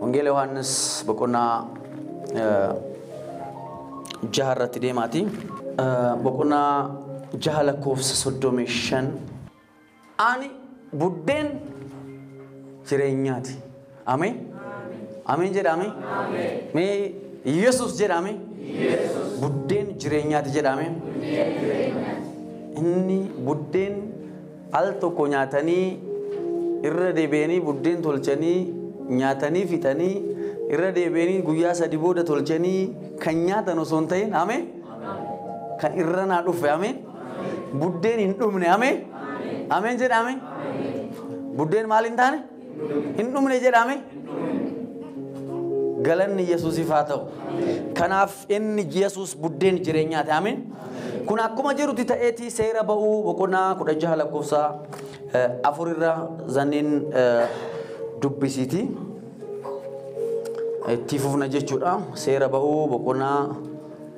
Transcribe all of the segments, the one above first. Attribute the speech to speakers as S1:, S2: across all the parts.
S1: Wangeela Yohaannis boqonnaa eh, jaha irratti deemaati. Eh, Boqonnaa jaha lakkoofsa soddomii shan Ani buddeen jireenyaati. Ameen. Ameen jedha ameen. Mee Yesus jedha ameen. Buddeen jireenyaati jedha ameen. Inni buddeen al tokko nyaatanii irra deebi'anii buddeen tolchanii nyaatanii fixanii irra deebi'anii guyyaa sadi booda tolchanii kan nyaatan osoo hin ta'in ameen. Kan irra naa dhufe ameen. Buddeen hin dhumne amee. Ameen jedha amee. Buddeen maal hin taane? Hin dhumne jedha amee. Galanni Yesuusiif haa ta'u. Kanaaf inni Yesuus buddeen jireenyaati ameen. Kun akkuma jirutti ta'eeti seera ba'uu boqonnaa kudha jaha lakkoofsa eh, afur irraa zanniin eh, dubbisiiti. Itti fufna jechuudha. Seera ba'uu boqonnaa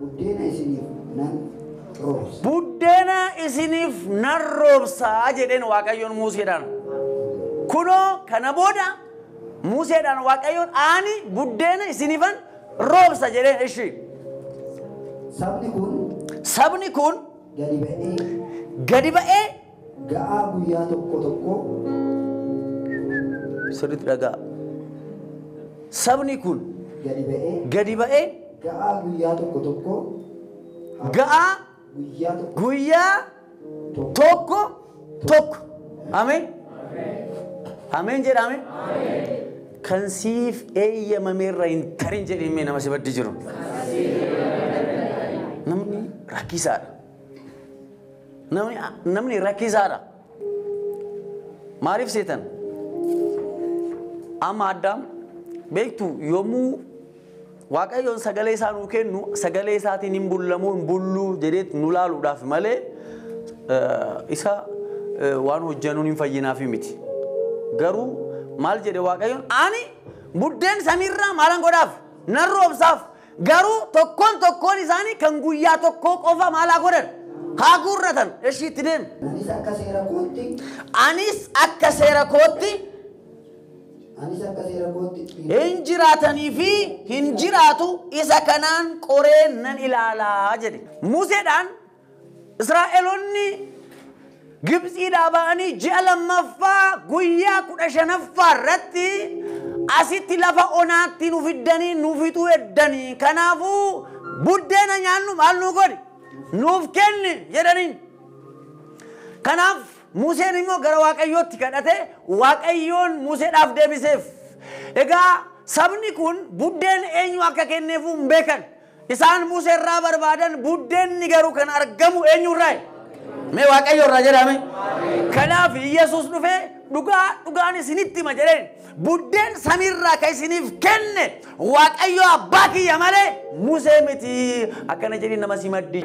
S2: Buddeena isiniif nan roobsa. Buddeena isiniif nan roobsa jedheen Waaqayyoon
S1: Muuseedhaan. Kunoo kana booda Muuseedhaan Waaqayyoon ani buddeena isiniifan roobsa jedheen ishii. Sabni kun. Sabni kun. Gadi ba'ee. Gadi ba'ee. ga'aa
S2: guyyaa tokkoo tokkoo.
S1: sirriitti dhaga'aa. Sabni kun. gadi ba'ee. gadi ba'ee. ga'aa guyyaa
S2: tokko tokkoo.
S1: ga'aa. guyyaa tokko. guyyaa tokko tokko. Ameen. Ameen jedha ameen. Kan siif eeyyamameerra hin tarin jedhee nama si baddi jiru. Namni rakkisaadha. Namni, namni rakkisaadha. Maaliif seetan? Amma addaam beektu yommuu Waaqayyoon sagalee isaa nuu kennu sagalee isaatiin hin bullamoo hin bulluu jedheet nu laaluudhaaf malee eh, isa eh, waan hojjennuun hin fayyinaaf miti. Garuu maal jedhe Waaqayyoon ani buddeen samiirraa maalan godhaaf nan roobsaaf Garuu tokkoon tokkoon isaanii kan guyyaa tokkoo qofa maal haa godhan? Haa guurratan. Eshii itti deemi. Anis akka seera kootti, Anis akka seera kootti anis akka seera kootti dhiiga hin jiraatanii fi hin jiraatu isa kanaan qoree nan ilaalaa jedhe. Museedhaan Israa'eloonni Gibtsiidhaa ba'anii ji'a lammaffaa guyyaa kudha shanaffaa irratti asitti lafa onaatti nu fiddanii nu fixuu eddanii kanaafuu buddeena nyaannu maal nuu godhi nuuf kenni jedhaniin. Kanaaf Museen immoo gara Waaqayyootti kadhate Waaqayyoon Museedhaaf deebiseef. Egaa sabni kun buddeen eenyu akka kenneefuu hin beekan. Isaan Musee irraa barbaadan buddeenni garuu kan argamu eenyu irraayi? Mee Waaqayyo irraa jedhame. Kanaaf Yesuus dhufee dhugaa dhugaan isinitti hima jedheen buddeen samiirraa kan isiniif kenne Waaqayyo abbaa kiyya malee Musee miti akkana jedhee nama simaddi.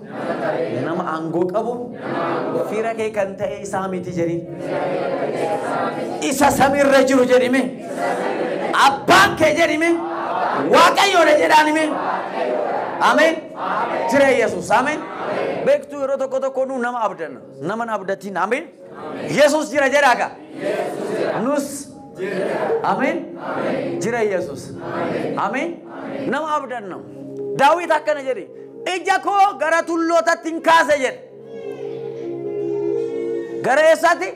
S1: Nama aangoo qabu fira kee kan ta'e isaa miti jedhin. Isa samiirra jiru jedhime. Abbaan kee jedhime. Waaqayyoodha jedhaanime. Ameen. Jira Yesuus. Ameen. Beektuu yeroo tokko tokko nu nama abdanna. Nama hin abdatiin. Ameen. Yesus jira jedhaa ka. Nus. Ameen. Jira Yesus. Ameen. Nama abdanna. Daawit akkana jedhe. Ija koo gara tullootatti hin kaase jedhe. Gara eessaatti?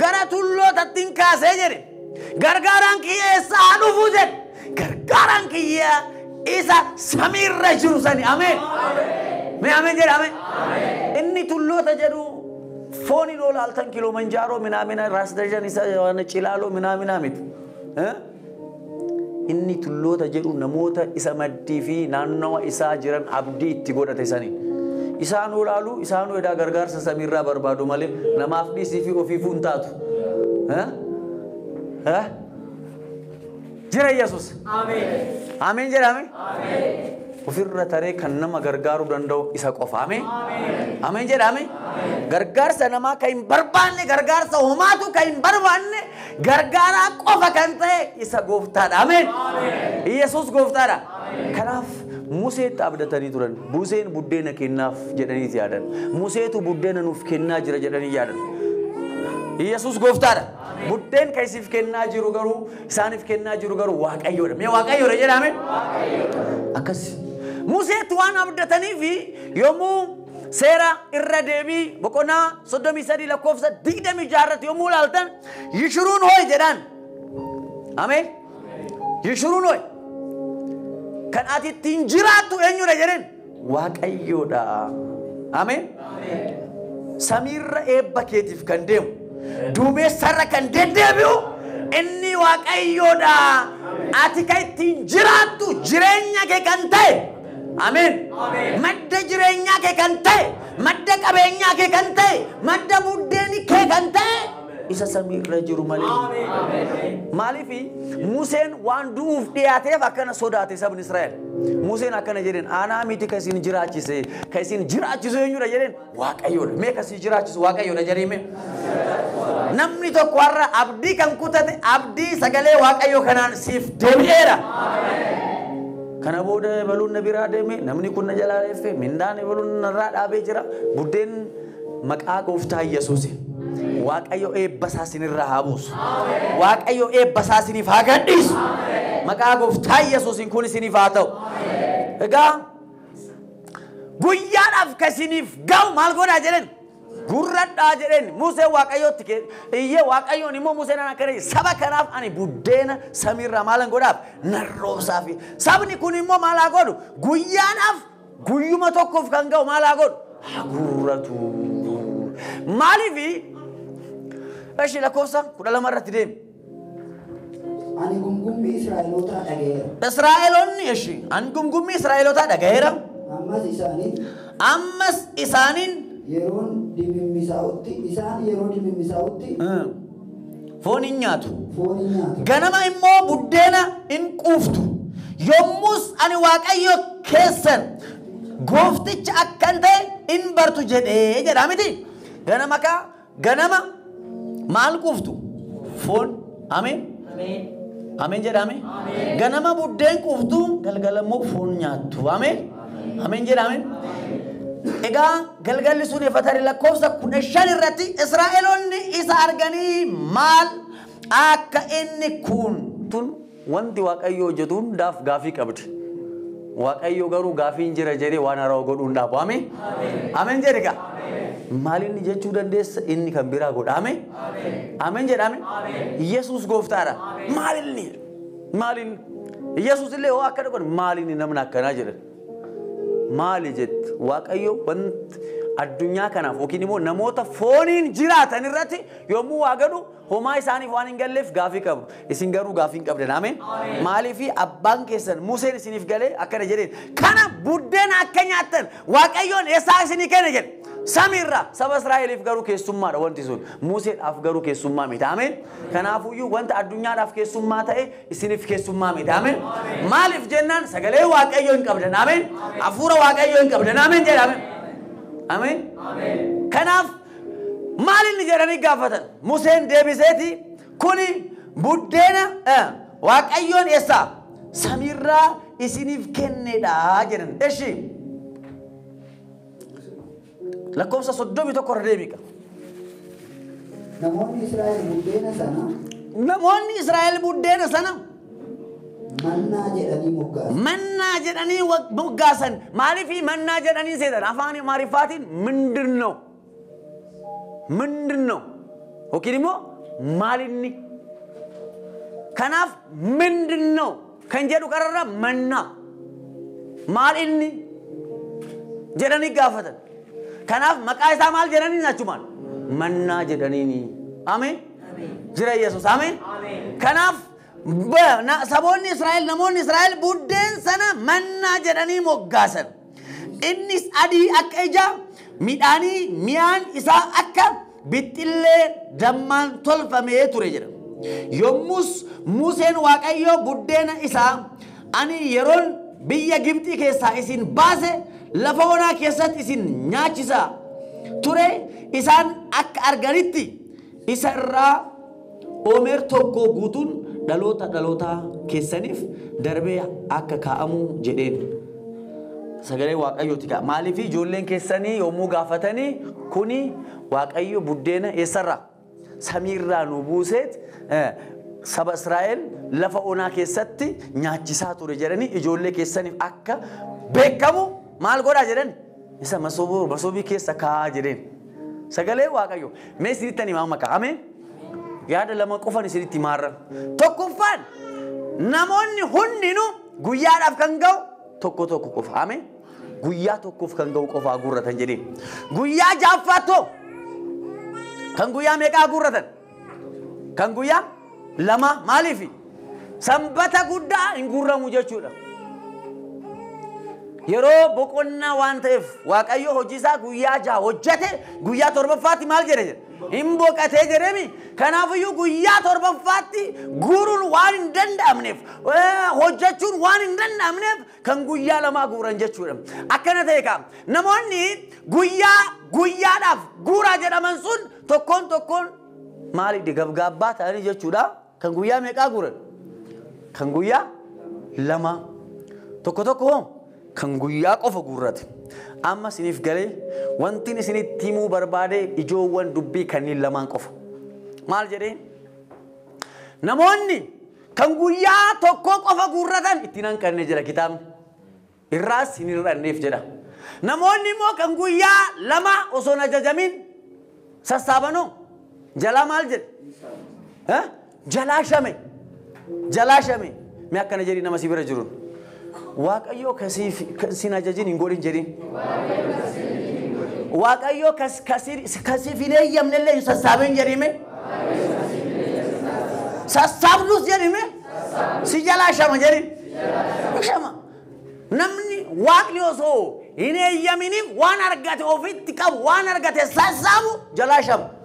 S1: Gara tullootatti hin kaase jedhe. Gargaaraan kiyya eessaa haa dhufu jedhe. Gargaaraan kiyyaa isa samiirra jiru sani. Ameen. Mee ameen jedha ameen. Inni tulloota jedhu fooniin ol aaltan kiloomanjaaroo minaamina raas dajan isa waan cilaaloo minaamina miti. Eh? Inni tulloota jedhu namoota isa maddii fi naannawa isaa jiran abdii itti godhate sani. Isaan ol aalu isaan edaa gargaarsa samiirraa barbaadu malee namaaf dhiisii fi ofiifuu hin taatu. Eh? Eh? Jira Yesus. Ameen jedhame. Ofirra taree kan nama gargaaruu danda'u isa qofa. Ameen. Ameen jedhame. Gargaarsa namaa kan hin barbaanne gargaarsa homaatu kan hin barbaanne gargaaraa qofa kan ta'e isa gooftaadha. Ameen. Yesus gooftaadha. Kanaaf Museetti abdatanii turan. Museen buddeena kennaaf jedhanii yaadan. Museetu buddeena nuuf kennaa jira jedhanii yaadan. Yesus gooftaadha. Murteen kan isiif kennaa jiru garuu isaaniif kennaa jiru garuu waaqayyoodha. Mee waaqayyoodha jedhaame? Akkas. Museetti waan abdataniif yommuu seera irra deebii boqonnaa 33 lakkoofsa 26 irratti yommuu ilaaltan yishuruun hoo'i jedhaan. Ameen. Yishuruun hoo'i. Kan ati ittiin jiraattu eenyudha jedheen. waaqayyoodha. Ameen. Samiirra eebba keetiif kan deemu, duumessarra kan deddeebi'u inni waaqayyoodha. Ati kan ittiin jiraattu jireenya kee kan ta'e. Ameen. Madda jireenyaa kee kan ta'e, madda qabeenyaa kee kan ta'e, madda buddeeni kee kan ta'e isa samii irra jiru malee. Maaliif Museen waan du'uuf dhiyaateef akkana sodaate sabni Israa'el. Museen akkana jedheen aanaa miti kan isin jiraachise kan isin jiraachisu eenyudha jedheen waaqayyoodha. Mee kan isin jiraachisu waaqayyoodha jedhame. Namni tokko har'a abdii kan kutate abdii sagalee waaqayyoo kanaan siif deebi'eera. Kana booda baluun na biraa deeme namni kun na jalaa reeffe mindaan baluun narraa dhaabee jira buddeen Maqaa gooftaa Yesuusin. Waaqayyo eebba isaa sinirraa haa buusu. Waaqayyo eebba isaa siniif haa gadhiisu. Maqaa gooftaa Yesuusin kun isiniif haa ta'u. Egaa guyyaadhaaf ka isiniif ga'u maal godhaa jedhen gurradhaa jedhen Musee Waaqayyootti kee iyyee Waaqayyoon immoo Museen akkana jedhe saba kanaaf ani buddeena samiirraa maalan godhaaf nan roobsaaf sabni kun immoo maal haa godhu guyyaadhaaf Guyyuma tokkoof kan ga'u maal haa godhu? Haa guurratu. Maaliifi? Eshi lakkoofsa kudha lama irratti deemi.
S2: Ani gumgummii Israa'elootaa dhaga'eera. Israa'eloonni eshi
S1: an gumgummii Israa'elootaa dhaga'eera. Ammas isaanii Ammas isaaniin yeroon
S2: dimimmisaa'utti isaan yeroo dimimmisaa'utti
S1: foon hin nyaatu. foon hin nyaatu. Ganama immoo buddeena hin quuftu. Yommus ani Waaqayyo keessan goofticha akkan ta'e hin bartu jedhee jedhaa miti. Ganama kaa ganama maal quuftu? Foon. Ameen. Ameen jedhaame. Ganama buddeen quuftu galgala immoo foon nyaattu. Ameen. Ameen jedha ameen. Egaa galgalli sun efa tarii lakkoofsa kudha shan irratti Israa'eloonni isa arganii maal akka inni kun tun wanti Waaqayyo hojjetu hundaaf gaafii qabdi. Waaqayyo garuu gaafiin jira jedhee waan haaraa godhuu hin dhaabu. Ameen. Ameen jedhe gaa. Maal inni jechuu dandeessa inni kan biraa godha. Ameen. Ameen jedha ameen. Yesuus gooftaadha. Maal inni? Maaliin Yesuus illee hoo akka dhaqan maaliin namni akkanaa jedhan. Maali jette Waaqayyo wanti addunyaa kanaaf yookiin immoo namoota fooniin jiraatan irratti yommuu waa godhu homaa isaaniif waan hin galleef gaafii qabu. Isin garuu gaafii hin qabdan. Ameen. Maaliif abbaan keessan Museen isiniif galee akkana jedheen. Kana buddeena akka nyaattan Waaqayyoon eessaa isinii kenne jedhe. Samiirraa saba Israa'eliif garuu keessummaadha wanti sun. Museedhaaf garuu keessummaa miti. Ameen. Kanaafuyyuu wanta addunyaadhaaf keessummaa ta'e isiniif keessummaa miti. Ameen. Maaliif jennaan sagalee Waaqayyoo hin qabdan. Ameen. Hafuura Waaqayyoo hin qabdan. Ameen jedha. Ameen. Ameen. Kanaaf maal inni jedhanii gaafatan? Museen deebiseeti kuni buddeena eh, Waaqayyoon eessaa samiirraa isiniif kennedha jedhan. Eshi. Lakkoofsa 31 irra deebiiqa. Namoonni Israa'el buddeena
S2: sana Namoonni Israa'el buddeena sana mannaa jedhanii moggaasan. mannaa jedhanii
S1: wa- moggaasan. Maaliif mannaa jedhanii seetan? Afaan Amaariffaatiin mindirnoo. Mindirnoo. Yookiin immoo maalinni. Kanaaf mindirnoo. kan jedhu qararra mannaa maal inni jedhanii gaafatan. Kanaaf maqaa isaa maal jedhaniin achumaan mannaa jedhaniini. Ameen. Jira Yesuus. Ameen. Kanaaf ba- na- saboonni Israa'el namoonni Israa'el buddeen sana mannaa jedhanii moggaasan. Innis adii akka ija midhaanii mi'aan isaa akka bixxillee dammaan tolfamee ture jedha. Yommus Museen Waaqayyoo buddeena isaa ani yeroon biyya Gibxii keessaa isin baase lafa onaa keessatti isin nyaachisa ture isaan akka arganitti Isa irraa omer tokkoo guutuun dhaloota dhaloota keessaniif darbee akka kaa'amuu jedheen. Sagalee waaqayyooti kaa. Maaliif ijoolleen keessanii yommuu gaafatanii kuni waaqayyo buddeena eessarraa? Samiirraa nu buuseet saba Israa'el lafa onaa keessatti nyaachisaa ture jedhanii ijoollee keessaniif akka beekamu maal godhaa jedhan? Isa masoobii keessa kaa'aa jedheen. Sagalee Waaqayyo. Mee isinitti ani maama ka'a. Ameen. Yaada lama qofan isinitti maarra. Tokkoffaan namoonni hundinuu guyyaadhaaf kan ga'u tokko tokko qofa. Ameen. Guyyaa tokkoof kan ga'u qofaa guurratan jedheen. Guyyaa jaaffaatoo kan guyyaa meeqaa guurratan? Kan guyyaa lama maaliif sanbata guddaa hin guurramu jechuudha. Yeroo boqonnaa waan ta'eef waaqayyo hojiisaa guyyaa jaha hojjete guyyaa torbaffaatti maal jedhe jedhe hin boqatee jedhemi kanaafiyyuu guyyaa torbaffaatti guuruun waan hin danda'amneef eh, hojjechuun waan hin danda'amneef kan guyyaa lamaa guuran jechuudha. Akkana ta'e kaa namoonni guyyaa guyyaadhaaf guuraa jedhaman sun tokkoon tokkoon maaliidha gabgaabbaa ta'anii jechuudha. Kan guyyaa meeqaa guuran? Kan guyyaa lamaa. Tokko tokko hoo kan guyyaa qofa guurrate. Amma isiniif galee wanti isinitti himuu barbaade ijoowwan dubbii kanneen lamaan qofa. Maal jedhee? Namoonni Kan guyyaa tokkoo qofa guurratan itti hin hanqanne jedha kitaabni. Irraas hin hir'anneef jedha. Namoonni immoo kan guyyaa lama osoo hin ajajamiin sassaabanoo jalaa maal jedhe? Jalaa shame. Jalaa shame. Mee akkana jedhi nama si bira jiruun. Waaqayyoo kasiif sin ajajin hin godhin jedhin. Waaqayyoo kas kasir kasiif hin eeyyamne illee hin sassaabin jedhime. Sassaabdus jedhime. Si jalaa shama jedhin. Shama. Namni waaqni osoo hin eeyyaminiif waan argate ofitti qabu waan argate sassaabu jalaa shama.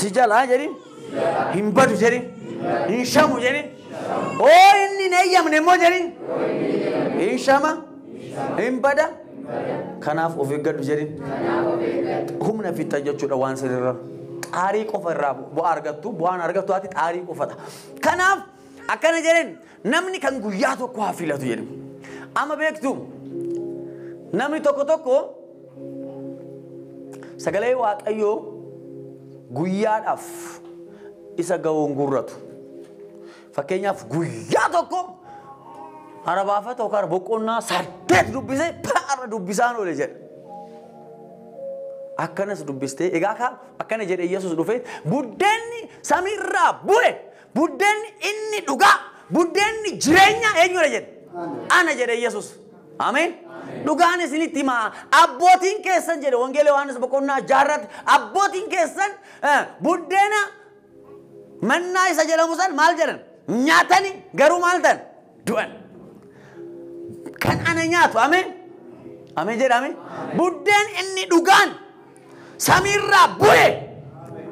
S1: si jalaa jedhin hin badu jedhin hin shamu jedhin oo inni hin eeyyamne immoo jedhin hin shama hin bada kanaaf of eeggadhu jedhin humna fixxa jechuudha waan sirrirra xaarii qofa irraa bu'aa argattu bu'aan argattu ati xaarii qofadha kanaaf akkana jedhin Namni kan guyyaa tokko haa filatu jedhu. Amma beektu namni tokko tokko sagalee waaqayyoo guyyaadhaaf isa ga'uun gurratu. Fakkeenyaaf guyyaa tokko arabaafata yookaan boqonnaa saddeet dubbisee har'a dubbisaan oole jedha. Akkanas dubbistee egaa akkana jedhe Yesuus dhufee buddeenni samiirraa bu'e Buddeenni inni dhugaa, buddeenni jireenyaa eenyudha jedhe? Ana jedhe Yesus. Ameen. Dhugaan isinitti himaa abbootiin keessan jedhe wangeela Yohaannis boqonnaa jaarratti abbootiin keessan eh, buddeena mannaa isa jedhamu san maal jedhan nyaatani garuu maal ta'an du'an. Kan ana nyaatu ameen. Ameen jedhame. Buddeen inni dhugaan samiirraa bu'e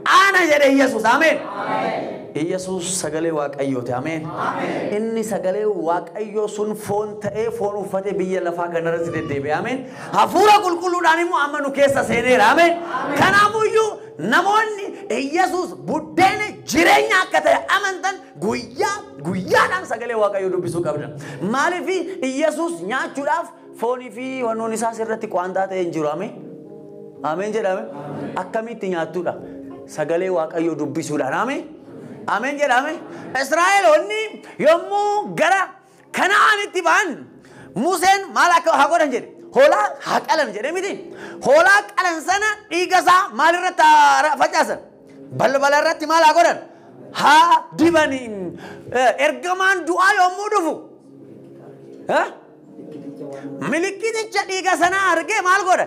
S1: ana jedhe Yesuus ameen. Yesuus sagalee Waaqayyooti ameen. Inni sagalee Waaqayyoo sun foon ta'ee foon uffatee biyya lafaa kanarratti deddeebi'e ameen. Hafuura qulqulluudhaan immoo amma nu keessa seeneera ameen. Kanaafuyyuu namoonni Yesuus buddeena jireenya akka ta'e amantan Guyyaa guyyaadhaan sagalee Waaqayyoo dubbisuu qabna. Maaliif Iyyasuus nyaachuudhaaf foonii fi wannoon isaa sirratti quwaantaa ta'e hin jiru. Ameen. Ameen jedhame. Akkamitti nyaattuudha? Sagalee Waaqayyoo dubbisuudhaan. Ameen. Ameen jedhame. Israa'eloonni yommuu gara Kana'aanitti ba'an Museen maal akka haa godhan jedhe? Hoolaa haa qalan jedhe miti. Hoolaa qalan sana dhiiga isaa maal irratti haa facaasan? Balbala irratti maal haa godhan? Haa dibani. Ergamaan du'aa yommuu dhufu milikkiticha dhiiga sanaa argee maal godha?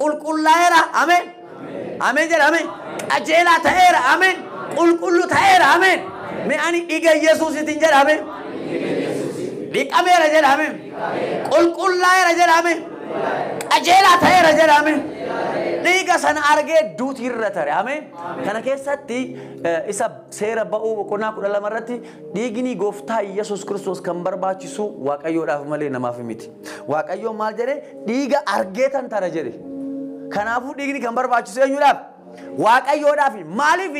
S1: Qulqullaa'eera. Ameen. Ameen jedha. Ameen. Qajeelaa ta'eera. Ameen. Qulqullu ta'eera. Ameen. Mee ani dhiiga Yesuusiitiin jedha. Ameen. Dhiqameera jedha. Ameen. Qulqullaa'eera jedha. Ameen. Qajeelaa ta'eera jedha. Ameen. Dhiiga sana argee duuti irra tare. Ameen. Kana keessatti eh, isa seera ba'uu boqonnaa kudha lama irratti dhiigni gooftaa Yesuus Kiristoos kan barbaachisu Waaqayyoodhaaf malee namaaf miti. Waaqayyoon maal jedhe? Dhiiga argee tantana jedhe. Kanaafuu dhiigni kan barbaachisu eenyuudhaaf? Waaqayyoodhaaf. Maaliif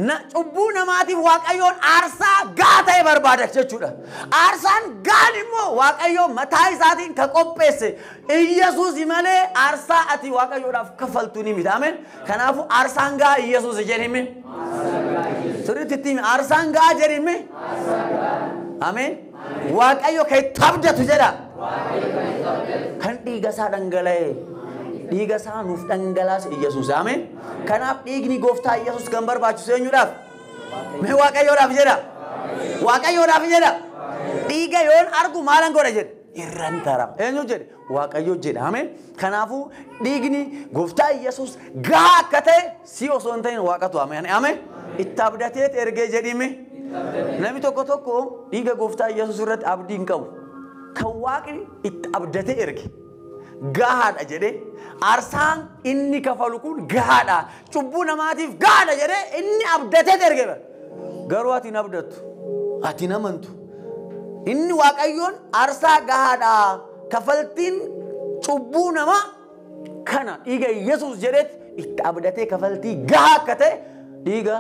S1: na, cubbuu namaatiif Waaqayyoon aarsaa gahaa ta'e barbaada jechuudha. Aarsaan gahaan immoo Waaqayyoo mataa isaatiin ka qopheesse Iyyasuus malee aarsaa ati Waaqayyoodhaaf kaffaltu ni miti. Ameen. Kanaafuu aarsaan gahaa Iyyasuus jedhime. Sirriitti itti himi. Aarsaan gahaa jedhime. Ameen. Waaqayyo kan itti abdatu jedha. Kan dhiiga isaa dhangala'e. Dhiiga isaa nuuf dhangalaase Iyyasuus. Ameen. Kanaaf dhiigni gooftaa Iyyasuus kan barbaachisu eenyudhaaf? Mee Waaqayyoodhaaf jedha. Waaqayyoodhaaf jedha. Dhiiga yoon argu maalan godha jedhe. Irran tarama. Eenyu jedhe? Waaqayyoo jedha. Ameen. Kanaafuu dhiigni gooftaa Yesuus gahaa akka ta'e si osoo hin ta'in waaqatu ameen. Ameen. Itti abdateet ergee jedhime. Namni tokko tokko dhiiga gooftaa Yesuus irratti abdii hin qabu. Kan waaqni itti abdatee erge. gahaadha jedhee aarsaan inni kafalu kun gahaadha Cubbuu namaatiif gaadha jedhee inni abdatee erge bara. Garuu ati hin abdattu. Ati hin amantu. Inni Waaqayyoon aarsaa gahaadha. Kafaltiin cubbuu namaa kana dhiiga Yesuus jedheet itti abdatee kafaltii gahaa akka ta'e dhiiga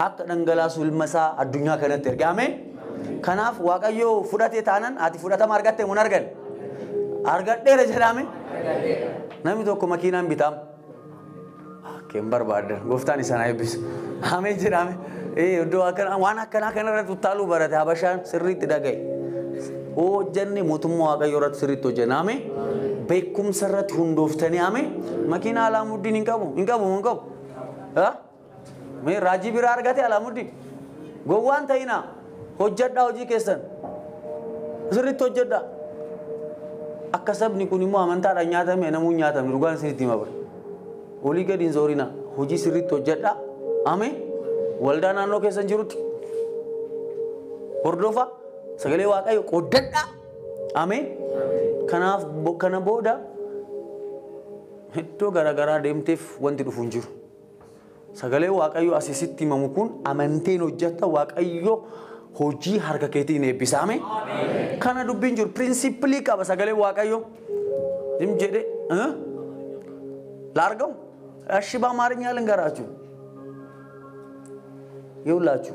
S1: akka dhangalaasu ilma isaa addunyaa kanatti erge. Ameen. Kanaaf Waaqayyoo fudhatee taanan ati fudhatama argatte mun argan. Argadheera jedhaame. Namni tokko makiinaan bitaam. Akka hin barbaaddan gooftaan isaan haa eebbisu. Amee jedhame iddoo akkana waan akkanaa kanarratti uttaaluu barate habashaan sirriitti dhaga'i. Hojjanne mootummaa waaqayyoo irratti sirriitti hojjanna amee beekumsa irratti hundooftanii amee makiinaa alaamuddin hin qabu hin qabu hin qabu. Mee raajii biraa argate alaamuddin gowwaan ta'inaa. Hojjadhaa hojii keessan. Sirriitti hojjadhaa. Akka sabni kun immoo amantaadhaan nyaatame namuu hin nyaatamne dhugaan sirriitti hima bara. Olii gadi hin zoorinaa. Hojii sirriitti hojjadhaa. Amee waldaa naannoo keessan jirutti hordofaa sagalee waaqayyo qoddadhaa. Amee kanaaf bo- kana booda iddoo garaagaraa deemteef wanti dhufu hin jiru. Sagalee Waaqayyoo asi sitti himamu kun amanteen hojjetta Waaqayyo hojii harka keetii hin eebbisa. Ameen. Kana dubbiin jiru pirinsipilii qaba sagalee Waaqayyoo. Zim jedhe eh? laargamu ashi baa maarinya lingaraachuu yoo laachuu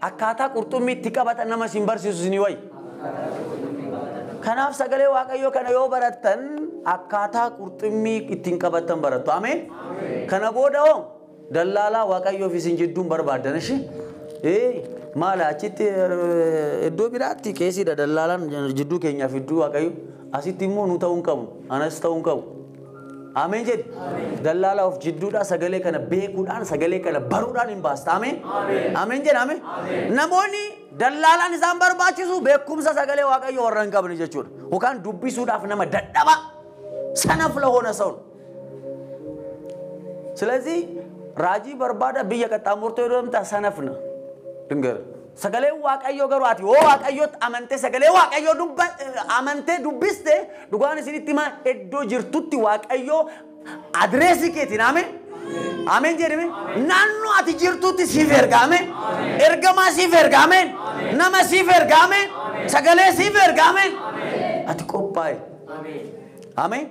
S1: Akkaataa qurxummii itti qabatan nama isin barsiisu isinii wayya. Kanaaf sagalee Waaqayyoo kana yoo barattan akkaataa qurxummii ittiin qabattan barattu. Ameen. Kana booda hoo dallaalaa Waaqayyoo fi isin jidduun barbaaddan ishee. Ee maala achitti eh, iddoo biraatti qeesiidha dallaalaan jidduu keenyaaf iddoo Waaqayyo. Asitti immoo nu ta'uu hin qabu. Anas ta'uu hin qabu. Ameen jedhi. Dallaalaa of jidduudhaa sagalee kana beekuudhaan sagalee kana baruudhaan hin baasta. Ameen. Ameen jedha ameen. Namoonni dallaalaan isaan barbaachisu beekumsa sagalee waaqayyoo warra hin qabne jechuudha. Yookaan dubbisuudhaaf nama dadhaba sanaf lahoona sa'un. Silazii raajii barbaada biyya qaxxaamurtoo yoo deemta sanafna. Dhingara. Sagaleen Waaqayyoo garuu ati hoo Waaqayyootti amantee sagalee Waaqayyoo dubba amantee dubbiste dhugaan isinitti himaa iddoo jirtutti Waaqayyoo adireesii keetiin ameen ameen jedhame naannoo ati jirtutti siif erga ameen ergamaa siif erga ameen nama siif erga ameen sagalee siif erga ameen ati qophaa'e. Ameen.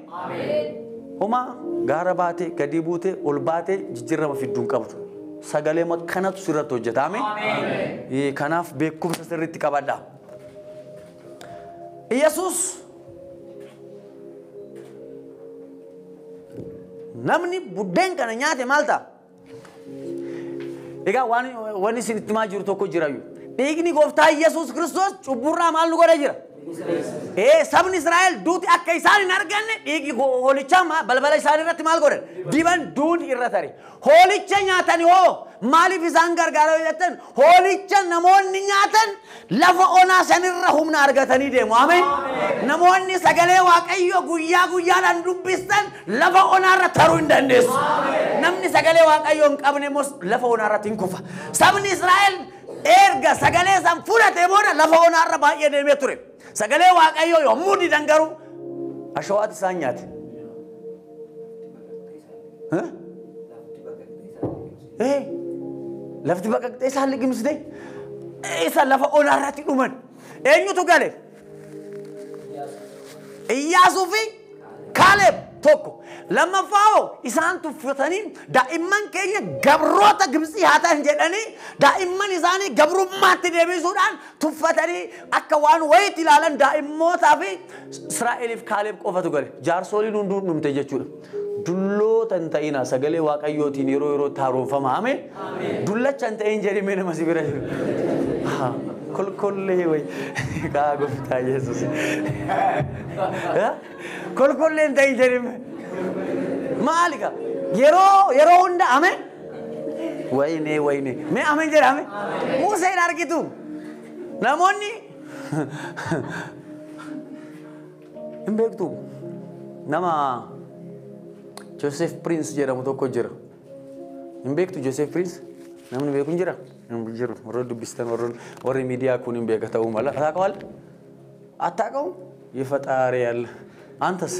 S1: Homaa gaara baatee gadii buutee ol baatee jijjiirama fidduu hin qabdu. Sagalee kanatu sirratti hojjeta. Ameen. Ee, Kanaaf beekumsa sirriitti qabadha. Yesuus namni buddeen kana nyaate maal ta'a? Egaa waan wanni isin itti himaa jiru tokko jira iyyuu. Dhiigni gooftaa Yesuus Kiristoos cubburraa maal nu godha jira? Ee sabni Israa'el duuti akka isaan hin arganne dhiigi ho- hoolichaa ma- balbala isaanii irratti maal godhan? Diban duuti irra tare. Hoolicha nyaatani hoo maaliif isaan gargaara yoo jettan hoolicha namoonni nyaatan Lafa onaa sanirra humna argatanii deemu. Ameen. Namoonni sagalee Waaqayyoo guyyaa guyyaadhaan dubbistan lafa onaarra taruu hin dandeessu. Namni sagalee Waaqayyoo hin qabne immoo lafa onaarratti hin kufa. Sabni Israa'el erga sagalee san fudhatee booda lafa onaarra baay'ee deemee ture. Sagalee Waaqayyoo yommuu didan garuu ashawaatu isaan nyaate. Huh? Ee, lafti baqaqxee isaan liqimsite isa lafa onaa irratti dhuman. Eenyutu gale? Iyyaasuu fi Kaaleeb tokko. Lammaffaa hoo isaan tuffatanii daa'imman keenya gabroota Gibtsii haa ta'an jedhanii daa'imman isaanii gabrummaatti deebisuudhaan Tuffatanii akka waan wayiitti ilaalan daa'immootaa fi Israa'eliif Kaaleeb qofatu gale. Jaarsooliin hunduu hin dhumte jechuudha. Dulloota hin ta'inaa sagalee waaqayyootiin yeroo yerootti haaromfama. Ameen. Dullacha hin ta'in jedhi mee nama si bira jiru. Haa, Kolkollee wayi kaa gooftaa Yesuus. Haa? Kolkollee hin ta'in jedhi mee. Maali kaa? Yeroo yeroo hunda ameen. Wayinee wayinee. Mee ameen jedhaame. Muusee hin argitu. Namoonni hin beektu. Nama Joseph Prince jedhamu tokko jira. Hin beektu Joseph Prince? Namni beeku hin jira? Hin jiru. Warra dubbistan warra warri miidiyaa kun hin beeka ta'uu mala. Ataa qawal? Ataa qawu? Yefaxaaree alla. Antas?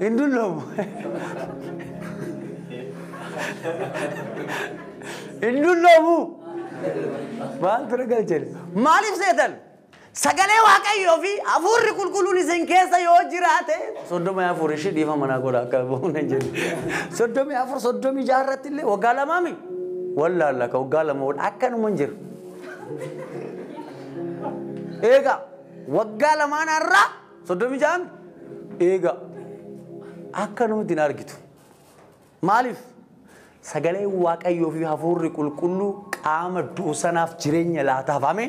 S1: Hin dulloomu. Hin dulloomu. Maal bira galchan? Maaliif seetan? Sagalee Waaqayyoo fi hafuurri qulqulluun isin keessa yoo jiraate soddomii afur ishii dhiifama naa godha akka bu'uun hin jedhu. Soddomii afur soddomii jaha irratti illee waggaa lamaa mi? Wallaalla ka waggaa lama ol akkanuma hin jiru. Eegaa waggaa lamaan har'aa soddomii ja'an eegaa akka namatti hin argitu. Maaliif? Sagalee Waaqayyoo fi hafuurri qulqulluu qaama du'u sanaaf jireenya laataaf amee.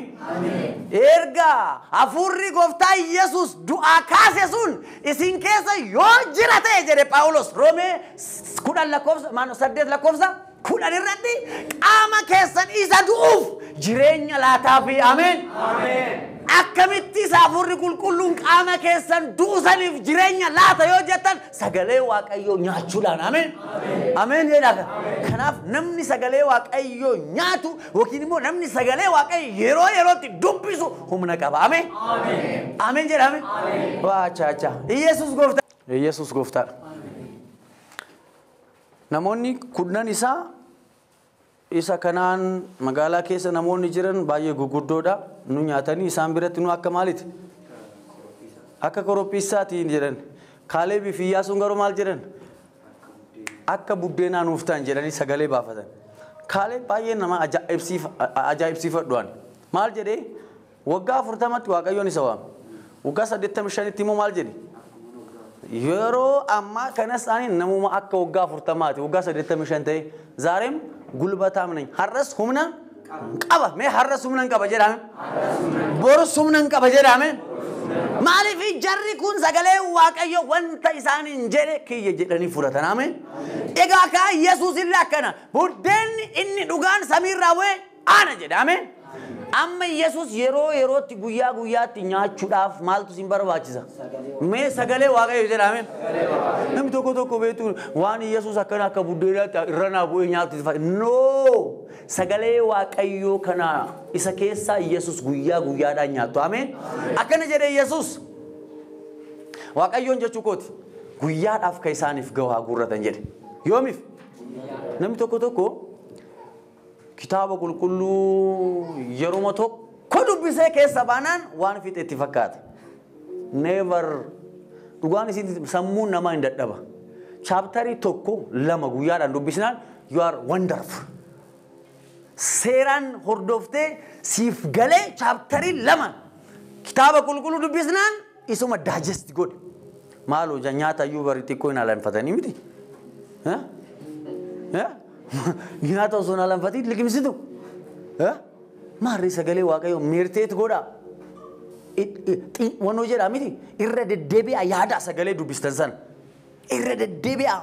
S1: Erga hafuurri gooftaa Yesuus du'aa kaase sun isin keessa yoo jira ta'e jedhe Phaawulos Roomee kudhan lakkoofsa maano saddeet lakkoofsa 10 irratti qaama keessan isa du'uuf jireenya laataafii ameen. Akkamitti isa hafuurri qulqulluun qaama keessan du'usaniif jireenya laata yoo jettan sagalee waaqayyoo nyaachuudhaan ameen. Ameen jedhaa kanaaf namni sagalee waaqayyoo nyaatu yookiin immoo namni sagalee waaqayyo yeroo yerootti dubbisu humna qaba ameen. Ameen jedhaa ameen. Waachaa chaa. Iyyasuus gooftaa. Iyyasuus gooftaadha. Namoonni kurnan isaa isa kanaan magaalaa keessa namoonni jiran baay'ee guguddoodha. Nu nyaatanii isaan biratti nu akka maaliti? Akka korophiissaati jedhan. Kaaleebii fi Iyyaasuun garuu maal jedhan? Akka buddeenaa nuuf ta'an jedhanii sagalee baafatan. Kaaleeb baay'ee nama ajaa'ibsiifadhu'an. Maal jedhee? Waggaa 40tti Waaqayyoon isa waame. Waggaa 85tti immoo maal jedhe? Yeroo ammaa kanas ani namuma akka waggaa 40ti, waggaa 85 ta'e, zaareem gulbataam nany. Har'as humna qaba. Mee har'as humna hin qaba jedhaame? Borus humna hin qaba jedhaame? Maaliif jarri kun sagalee Waaqayyo wanta isaan hin jedhe kiyya jedhanii fudhatan ameen. Egaa kaa Yesuus illee akkana buddeenni inni dhugaan samiirraa bu'e Ana jedha ameen. Amma Yesus yeroo yerootti guyyaa guyyaatti nyaachuudhaaf maaltu isin barbaachisa? Mee sagalee waaqayyo jedha ameen. Namni tokko tokko beektu waan Yesus akkana akka buddeenaatti irra naa bu'ee nyaatu itti No! Sagalee waaqayyoo kana isa keessaa Yesus guyyaa guyyaadhaan nyaattu ameen. Akkana jedhe Yesus. Waaqayyoon jechuu kooti guyyaadhaaf kan isaaniif gahu haa guurratan jedhe. Yoomiif? Namni tokko tokko Kitaaba Qulqulluu yeruma tokko dubbisee keessa baanaan waan fixe itti fakkaata. Never. Dhugaan isiiti sammuun namaa hin dadhaba. Chaaptarii tokko lama guyyaadhaan dubbisnaan you are wonderful. Seeraan hordoftee siif galee chaaptarii lama kitaaba qulqulluu dubbisnaan isuma digest godhe. Maaloo ja nyaata iyyuu bari xiqqoo hin alanfatanii miti. Eh? Eh? Nyaata osoo hin alanfatiin liqimsitu. Eh? Maarree sagalee waaqayyoo meerteet godhaa. Wannoo jedhaa miti irra deddeebi'aa yaadaa sagalee dubbistan sana. Irra deddeebi'aa.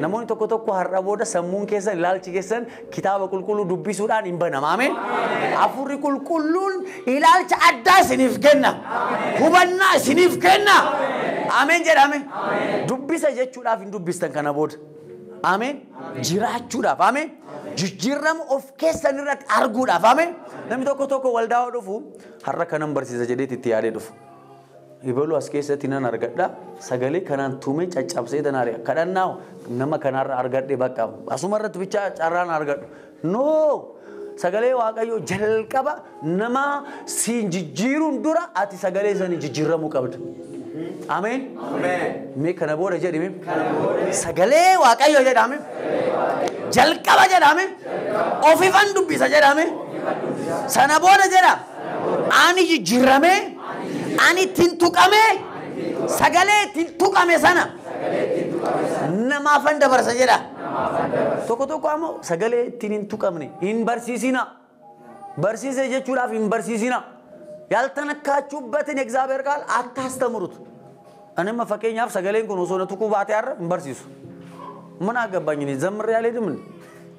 S1: Namoonni tokko tokko har'a booda sammuun keessan ilaalchi keessan kitaaba qulqulluu dubbisuudhaan hin banama. Ameen. Hafuurri qulqulluun ilaalcha addaa isiniif kenna. Hubannaa isiniif kenna. Ameen jedhame. Dubbisa jechuudhaaf hin dubbistan kana booda. Ameen. Jiraachuudhaaf. Ameen. Jijjiirama of keessan irratti arguudhaaf. Ameen. Namni tokko tokko waldaa dhufu har'a kanan barsiisa jedheeti itti yaadee dhufu. Ebalu as keessatti nan argadha. Sagalee kanaan tumee caccabsee tan ari'a. Kadhannaa nama kanaarra argadhe bakka asuma irratti bichaa carraan argadhu. No! Sagalee Waaqayyoo jalqaba nama siin jijjiiruun dura ati sagalee sanii jijjiiramuu qabda. Ameen. Mee kana booda jedhime. Sagalee Waaqayyoo jedhame. Jalqaba jedhame. Ofifan dubbisa jedhame. Sana booda jedha. Ani jijjiirame, ani ittiin tuqame, sagalee ittiin tuqame sana namaafan dabarsa jedha. Tokko tokko ammoo sagalee ittiin hin tuqamne hin barsiisina. Barsiise jechuudhaaf hin barsiisina. Yaltanakkaachubbatin egzaabeer qaal attaastamurut. Ani amma fakkeenyaaf sagaleen kun osoo na tuquu baatee har'a hin barsiisu. Mana agabbaanyini zammarri yaalee dimni.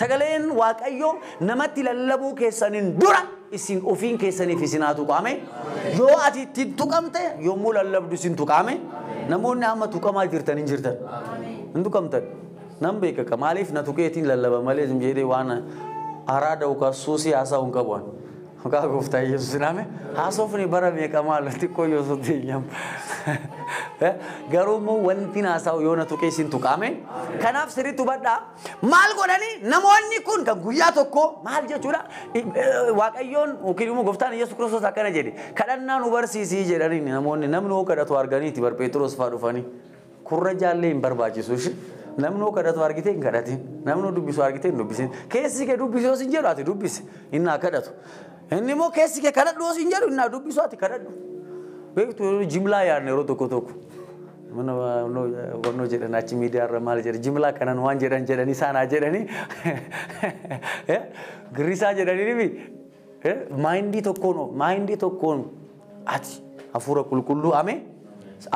S1: Sagaleen Waaqayyoo namatti lallabuu keessaniin dura isin ofiin keessaniif isin haa tuqaame. Yoo ati ittiin tuqamte yommuu lallabdu isin tuqaame. Namoonni amma tuqamaa jirtan hin jirtan. Hin tuqamtan. Nan beekaka maaliif na tuqeetiin lallaba malee jedhee waan araada yookaan suusii haasa'u hin qabu. Maqaa gooftaa Yesuusin ame haasofni bara meeqa maal xiqqoo yoo sotti nyam. Garuu immoo wanti naasaa'u yoo na tuqee sin tuqaame. Kanaaf sirriitti hubadhaa maal godhanii namoonni kun kan guyyaa tokko maal jechuudha waaqayyoon yookiin immoo gooftaan Yesuus Kiristoos akkana jedhe kadhannaa nu barsiisii jedhanii namoonni namni hoo kadhatu arganiiti bar Pheexiroos fa'aa dhufanii. Kurrajaallee hin barbaachisu ishi. Namnoo kadhatu argitee hin kadhatin. Namnoo dubbisu argitee hin dubbisin. Keessi kee dubbisi yoo sin jedhu ati dubbisi. Inni haa kadhatu. Inni immoo keessi kee kadhadhu yoo sin jedhu inni haa dubbisu ati kadhadhu. Beektu yeroo jimlaa yaadne yeroo tokko tokko. Mana wannoo jedhan achi miidiyaa irra maal jedhan jimlaa kanan waan jedhan jedhanii isaan haa jedhanii. Girrisaa jedhanii ni Maayindii tokkoon hoo? Maayindii tokkoon ati hafuura qulqulluu amee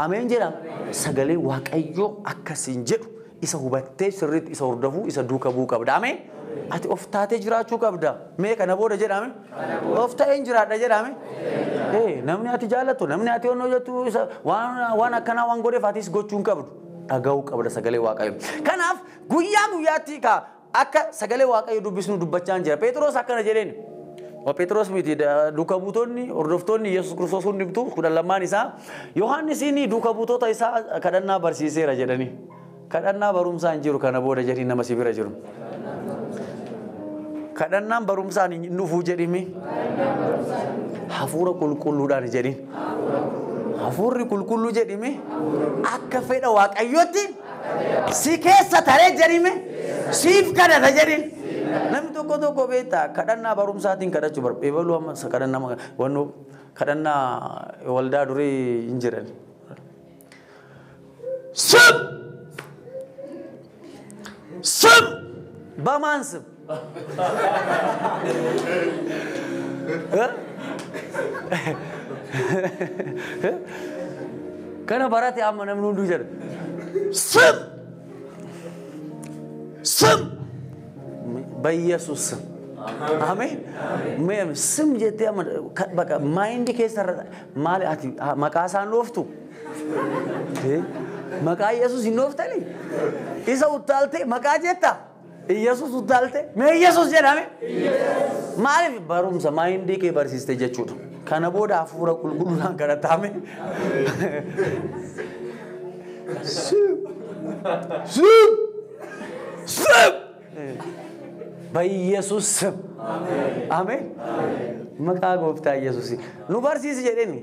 S1: ameen jedha sagalee waaqayyoo akka siin jedhu isa hubattee sirriitti isa hordofuu isa duuka bu'uu qabda amee ati of taatee jiraachuu qabda mee kana booda jedhame of ta'een jiraadha jedhame ee namni ati jaallattu namni ati onnoo jettu isa waan waan akkanaa waan godheef atis gochuu hin qabdu dhaga'uu qabda sagalee waaqayyoo kanaaf guyyaa guyyaatti kaa Akka sagalee Waaqayyo dubbisnu dubbachaan jira. Pheexiroos akkana jedheen. O Pheexiroos miti duuka buutonni hordoftoonni Yesuus Kiristoos hundumtuu kudhan lammaan isaa Yohaannisiin duuka buutota isaa kadhannaa barsiiseera jedhanii. Kadhannaa barumsaa hin jiru kana booda jedhii nama si bira jiru. Kadhannaan barumsaan hin dhufuu jedhimi. Hafuura qulqulluudhaan jedhin. Hafuurri qulqulluu jedhimi akka fedha Waaqayyootti Si keessa taree jedhime siif kadhata jedhin. Namni tokko tokko beektaa kadhannaa barumsaatiin kadhachuu barbaada. Ebaluu amma kadhannaa wannoo kadhannaa waldaa durii hin jiran. Sub! Sub! Bamaan sub! Kana barate amma namni hunduu jedha. Sum! Sum! Bayyesuus sum. Ameen. Mee sum jettee amma ka- baqa maayindi keessa irra maali ati ha- maqaa isaan dhooftu? Eh, Maqaa Yesuus hin dhooftanii? Isa uttaaltee maqaa jetta? Iyyasuus uttaalte mee Iyyasuus jedhame. Maaliif barumsa maayindii kee barsiiste jechuudha. Kana booda hafuura qulqulluudhaan kadhataame. Bayyesuus sib. Ameen. Maqaa gooftaa Iyyasuus. Nu barsiisi jedheni.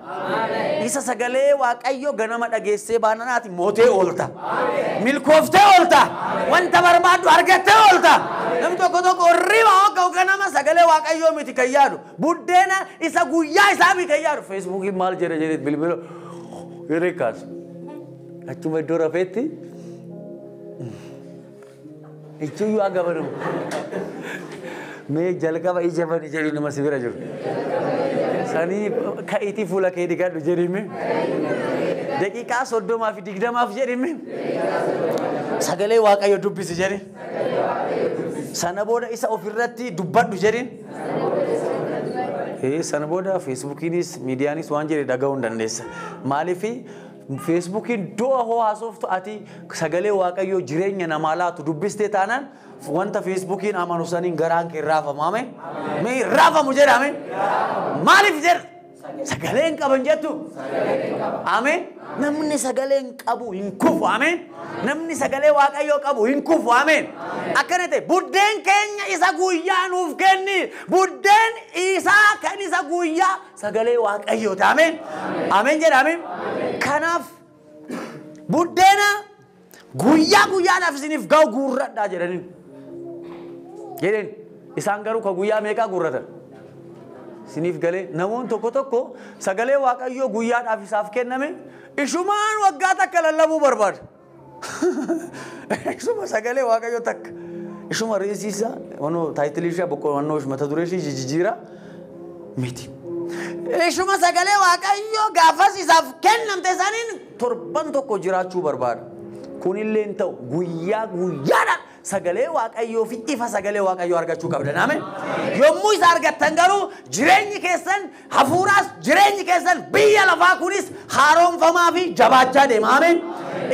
S1: Isa sagalee Waaqayyo ganama dhageessee baananaati mootee oolta. Milkooftee oolta. Wanta barbaaddu argattee oolta. Namni tokko tokko hirriba hogga ganama sagalee Waaqayyoo miti kan yaadu. Buddeena isa guyyaa isaa miti kan yaadu. Feesbuukiin maal jedha jedheet bilbila hirree kaasu. Achuma iddoo rafeetti Ichuyyuu aga banu. Mee jalqaba ija bani jedhi nama si bira jiru. Sanii ka'iitii fuula kee dhiqadhu jedhime. Daqiiqaa soddomaa fi digdamaaf jedhime. Sagalee Waaqayyo dubbisi jedhi. Sana booda isa ofirratti dubbadhu jedhin. Ee, Sana booda feesbuukiinis miidiyaanis waan jedhe dhaga'uu hin dandeessa. Maaliif Feesbuukiin du'a hoo haasoftu ati sagalee waaqayyoo jireenya namaa laatu dubbistee taanaan wanta feesbuukiin amanu saniin garaan kee raafama ameen mee raafamu jedha ameen maaliif jedha sagalee hin qaban jettu ameen namni sagalee hin qabu hin kufu ameen namni sagalee waaqayyoo qabu hin kufu ameen akkana ta'e buddeen keenya isa guyyaa nuuf kenni buddeen isaa kan isa guyyaa Sagalee Waaqayyooti. Ameen. Ameen jedha. Ameen. Kanaaf buddeena guyyaa guyyaadhaaf isiniif ga'u guurradhaa jedhaniin. Jedheen isaan garuu ka guyyaa meeqaa guurratan? Isiniif galee namoonni tokko tokko sagalee Waaqayyoo guyyaadhaaf isaaf kenname ishumaan waggaa takka lallabuu barbaada. Isuma sagalee waaqayyo takka. Isuma reesii isaa wannoo taayitilii ishee boqqoo wannoo mata duree ishee jijjiira miti. Ishuma sagalee waaqayyo gaafas isaaf kennamte isaaniin torban tokko jiraachuu barbaada. Kunillee hin ta'u guyyaa guyyaadhaan Sagalee Waaqayyoo fi ifa sagalee Waaqayyoo argachuu qabdan. Ameen. Yommuu isa argattan garuu jireenyi keessan hafuuraas jireenyi keessan biyya lafaa kunis haaromfamaa fi jabaachaa deema. Ameen.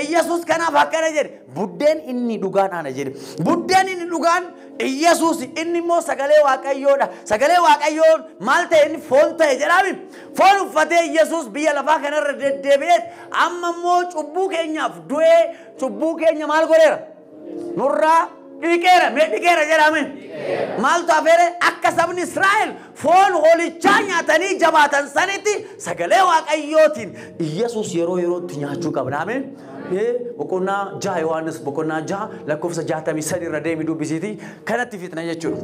S1: Iyyasuus kanaaf akkana jedhe buddeen inni dhugaan ana jedhe. Buddeen inni dhugaan Iyyasuus inni immoo sagalee Waaqayyoodha. Sagalee Waaqayyoo maal ta'e inni foon ta'e jedhaami. Foon uffatee Iyyasuus biyya lafaa kanarra deddeebi'eet amma immoo cubbuu keenyaaf du'ee cubbuu keenya maal godheera? nurraa dhiqeera mee dhiqeera jedhame maaltu afeere akka sabni israa'el foon hoolichaa nyaatanii jabaatan sanitti sagalee waaqayyootiin iyyasuus yeroo yerootti nyaachuu qabna ameen boqonnaa jaha yohaannis boqonnaa jaha lakkoofsa jaatamii sadi irra deemi dubbisiiti kanatti fixna jechuudha.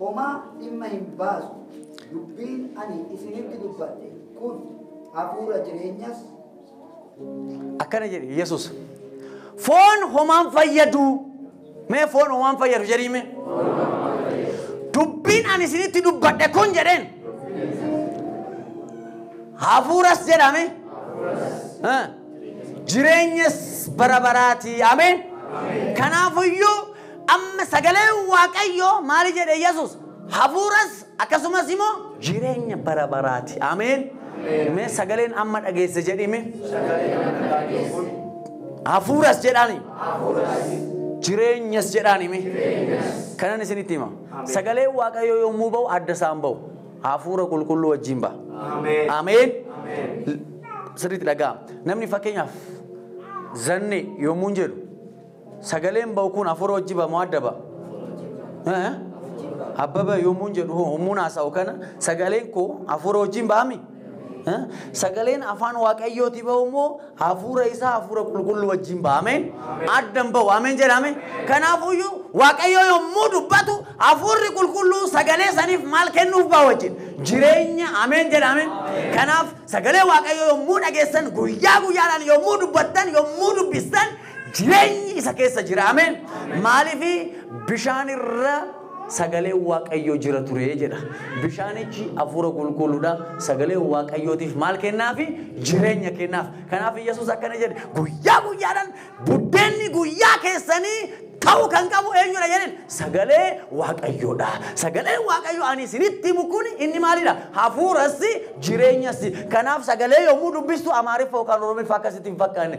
S2: homaa dhimma hin baasu. Dubbiin ani isinitti dubbadhe kun hafuura jireenyas.
S1: Akkana jedhi Yesuus. Foon homaan fayyadu. Mee foon homaan fayyadu jedhiime. Dubbiin ani isinitti dubbadhe kun jedheen. Hafuuras jedhame. Jireenyas bara baraatii. Ameen. Kanaafiyyuu Amma sagaleen Waaqayyoo maali jedhe Yesus? Hafuuras akkasumas immoo jireenya bara baraati. Ameen. Mee sagaleen amma dhageesse jedhime. Hafuuras jedhaani. Jireenyas jedhaani mee. Kanan isinitti hima. Sagaleen Waaqayyoo yommuu ba'u adda isaan ba'u. Hafuura qulqulluu wajjin ba'a. Ameen. Sirriitti dhaga'a. Namni fakkeenyaaf zannee yommuu jedhu Sagaleen ba'u kun hafuura wajji ba'a moo adda ba'a? Eh? Abbaba yommuun jedhu hoo yommuun haasa'u kana sagaleen koo hafuura wajjin ba'ami? Eh? Sagaleen afaan waaqayyooti ba'u immoo hafuura isaa hafuura qulqulluu wajjin ba'ameen addan ba'u ameen jedhame. Kanaafuyyuu waaqayyo yommuu dubbatu hafuurri qulqulluu sagalee saniif maal kennuuf ba'a wajjin jireenya ameen jedhame. Kanaaf sagalee waaqayyo yommuu dhageessan guyyaa guyyaadhaan yommuu dubbattan yommuu dubbistan Jireenyi isa keessa jira. Ameen. Maaliif bishaan irra sagalee waaqayyoo jira ture jedha. Bishaanichi hafuura qulqulluudha. Sagalee waaqayyootiif maal kennaafi? Jireenya kennaaf. Kanaaf Yesuus akkana jedhe guyyaa guyyaadhaan buddeenni guyyaa keessanii ta'uu kan qabu eenyudha jedheen sagalee waaqayyoodha. Sagalee waaqayyoo ani isinitti himu kun inni maalidha? Hafuurassi jireenyassi. Kanaaf sagalee yommuu dubbistu amaariffa yookaan oromiffaa akkasitti hin fakkaanne.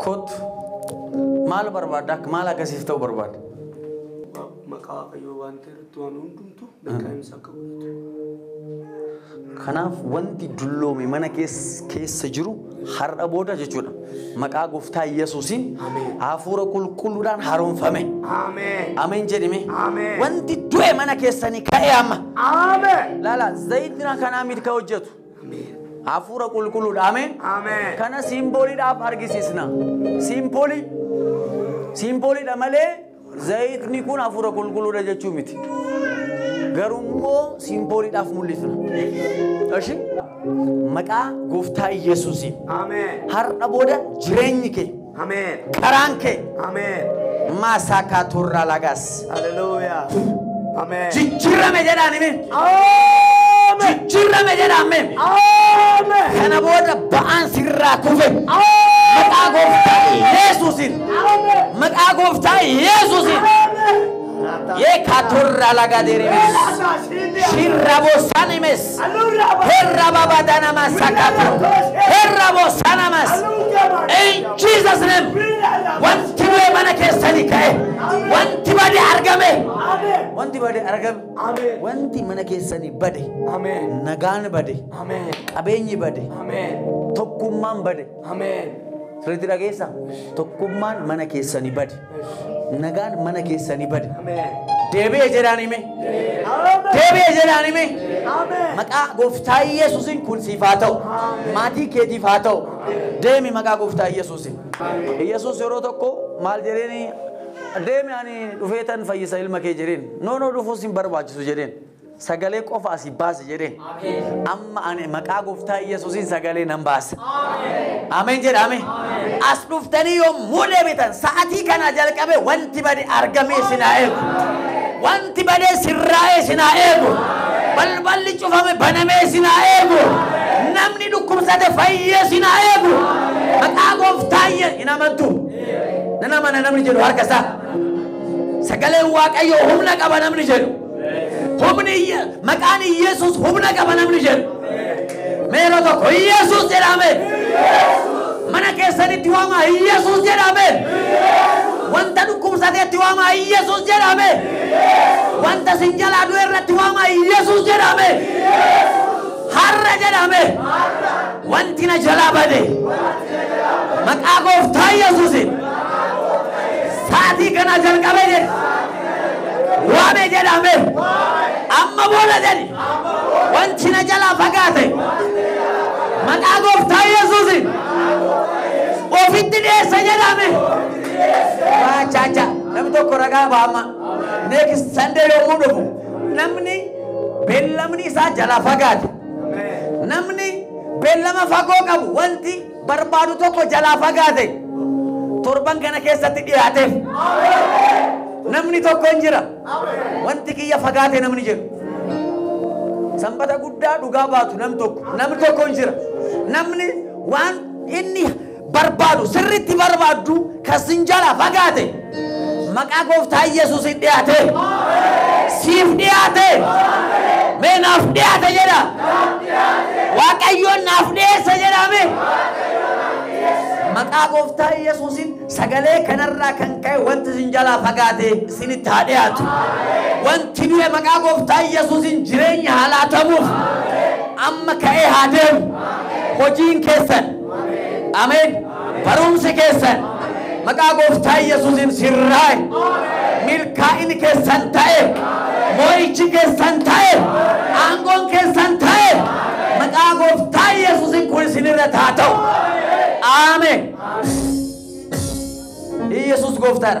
S1: Kottu. Maal barbaadda? Akka maal akka siif ta'u barbaadda? Maqaa
S3: Waaqayyoo waan ta'e irratti waan hundumtu lakkaa'insa akka godhatu.
S1: Kanaaf wanti dulloome mana kees- keessa jiru har'a booda jechuudha. Maqaa gooftaa Yesuusiin Ameen. hafuura qulqulluudhaan haaromfame. Ameen. Ameen
S3: jedhime.
S1: Ameen. Wanti
S3: du'e mana
S1: keessanii ka'e amma. Ameen. Laala
S3: zayitni
S1: kanaa miti kan hojjetu. Hafuura
S3: qulqulluudha.
S1: Ameen. Ameen. Kana
S3: siimbooliidhaaf
S1: argisiisna. Siimboolii siimbooliidha malee zayitni kun hafuura qulqulluudha jechuu miti. Garuu immoo siimbooliidhaaf mul'isna. Eshi maqaa gooftaa Yesuusiin Ameen. har'a
S3: booda
S1: jireenyi kee Ameen. Karaan
S3: kee
S1: Ameen.
S3: maasaa
S1: kaatuurraa lagaas. Hallelujah.
S3: Ameen. Jijjiirame jedhaan
S1: himi. Ameen.
S3: Jijjiirame jedhaan
S1: himi. Ameen.
S3: Kana booda
S1: ba'aan sirraa kufe. Maqaa gooftaa Yesuusiin. Ameen. Maqaa gooftaa Yesuusiin. Ameen. Ye katorra laga deremes. Shirra bosanimes. Herra baba danama sakata. Herra bosanamas. In Jesus name. Wanti du'e mana keessani ka'e. Wanti bade argame. Wanti bade argame. Wanti mana keessani bade. Nagaan bade. Qabeenyi bade. Tokkummaan bade. Ameen. Sirriitti dhageessa. Tokkummaan mana keessanii bade. Nagaan mana keessanii bade. Ameen. Deebi'e jedhaan hime. Ameen. Deebi'e jedhaan hime. Ameen. Maqaa gooftaa Yesuusiin kun siif haa ta'u. Maatii keetiif haa ta'u. Deemi maqaa gooftaa Yesuusiin. Yesuus yeroo tokko maal jedheeni deemi ani dhufeetan fayyisa ilma kee jedheen. Noonoo dhufuus hin barbaachisu jedheen. Sagalee qofa asii baasi jedheen. Amma ani maqaa gooftaa Yesuusiin sagalee nan baasa. Ameen jedhame. As dhuftanii yommuu deebitan sa'atii kanaa jalqabee wanti bade argamee isin haa eegu. Wanti badee sirraa'ee isin haa eegu. Balballi cufame banamee isin haa eegu. Namni dhukkubsate fayyee isin haa eegu. Maqaa gooftaa Yesuus hin amantu. Nan amana namni jedhu harka isaa. Sagaleen Waaqayyoo humna qaba namni jedhu. Humni Iyye- maqaan Iyyasuus humna qaba namni jedhu. Meeroo tokko Iyyasuus jedhame. Mana keessanitti waamaa Iyyasuus jedhame. Wanta dhukkubsateetti waamaa Iyyasuus jedhame. Wanta sin jalaa du'e irratti waamaa Iyyasuus jedhame. Har'a jedhame. Wanti na jalaa bade. Maqaa gooftaa Iyyasuusin. Sa'aatii kana jalqabe jedhe. waame jedhame amma booda jedhi wanti na jalaa fagaate maqaa gooftaa yesuusin ofitti dhiyeessa jedhame maachaacha namni tokko ragaa baama next sunday yommuu dhufu namni beellamni isaa jalaa fagaate namni beellama fagoo qabu wanti barbaadu tokko jalaa fagaate torban kana keessatti dhiyaateef namni tokko hin jira wanti kiyya fagaate namni jedhu sanbata guddaa dhugaa baatu nam tokko namni tokko hin jira namni waan inni barbaadu sirriitti barbaaddu Kan sin jalaa fagaate maqaa gooftaa Yesuusiin dhiyaate. Siif dhiyaate. Mee naaf dhiyaate jedha. Waaqayyoon naaf dhiyeessa jedha mee. Maqaa gooftaa Yesuusiin sagalee kanarraa kan ka'e wanti sin jalaa fagaate sinitti haa dhiyaatu. Wanti du'e maqaa gooftaa Yesuusiin jireenya haa laatamuuf amma ka'ee haa deemu. Hojiin keessan. Ameen. Barumsi keessan maqaa gooftaa Yesuusiin sirraa'e. Milkaa'ini keessan ta'e. Moo'ichi keessan ta'e. Aangoon keessan ta'e. Maqaa gooftaa Yesuusiin kun isinirra taa ta'u. Aameen. Yesuus gooftaadha.